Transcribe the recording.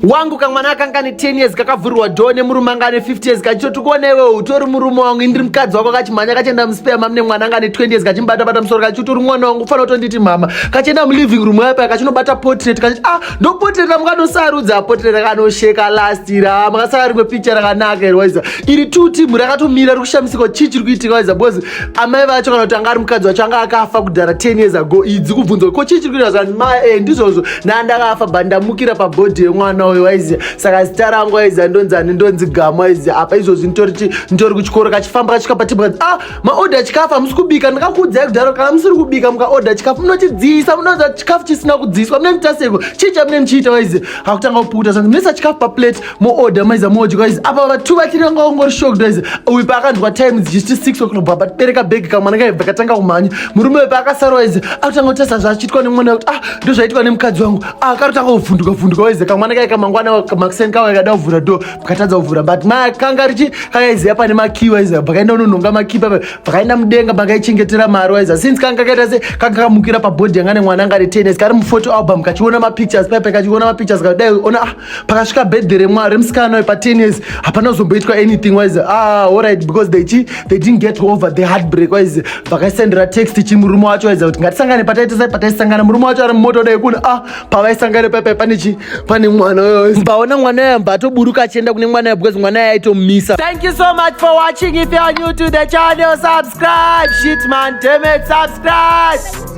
wangu kamwana akanga ane 10 years kakavhurirwa dhoo nemurume anga ane 50 years kachitoti kuona iwewe utori murume wangu indiri mukadzi wako kachimhanya kachienda muspare mam nemwana anga ane 20 years kachimubatabata musoro kachiti uri mwana wangu kufanira kutonditi mhama kachienda muliving room yayo paya kachinobata potret kachiti ah ndopotret ramukanosarudza potret rakanosheka last iri ah makasaka rimwe picture rakanaka iri waiza iri two team rakatomira riri kushamisika chii chiri kuitika waiza because amai vacho kana kuti anga ari mukadzi wacho anga akafa kudhara 10 years ago idzi kubvunza ko chii chiri kuita zvani ma e ndizvozvo nandakafa but ndamukira pabhodhi yemwana uyo waiziva saka zita rangu aiziva ndonzi ani ndonzi gamu aiziva apa izvozvi nditoriti nditori kuchikoro kachifamba kachika patibwa ah maodha chikafu hamusi kubika ndakakuudzai kudhara kana musiri kubika mukaodha chikafu munochidziisa munoza chikafu chisina kudziiswa mune mitaseiko chii chamune muchiita waiziva akutanga kupukuta zvanzi mesa chikafu paplate moorder maiza moji guys apa vatu vachiri vanga vangori shocked guys uyu paakanzwa time dzichiti six o'clock baba tibereka bhegi kamwana kaibva katanga kumhanya murume uyu paakasara waize akutanga kutasa zvachiitwa nemwana kuti ah ndo zvaiitwa nemukadzi wangu ah karutanga kuvhunduka vhunduka waize kamwana kai kamangwana makuseni kawa ikada kuvhura do pakatadza kuvhura but ma kanga richi kakaiziva pane makii waize pakaenda unonhonga makii papa pakaenda mudenga pakaichengetera mari waize since kanga kaita se kanga kamukira pabhodhi yanga nemwana anga ari tennis kari muphoto album kachiona mapictures paipa kachiona mapictures kadai ona ah pakasvika birthday remwa remusikana wepa 10 years hapana kuzomboitwa anything wise ah alright because they chi they didn't get over the heartbreak wise vakaisendera text chi murume wacho waiza kuti ngatisangane pataita sai pataisangana murume wacho ari mumoto dai kuna ah pavaisangane paipai pane chi pane mwana uyo mbaona mwana uyo mba atoburuka achienda kune mwana uyo because mwana uyo aitomumisa thank you so much for watching if you are new to the channel subscribe shit man damn it subscribe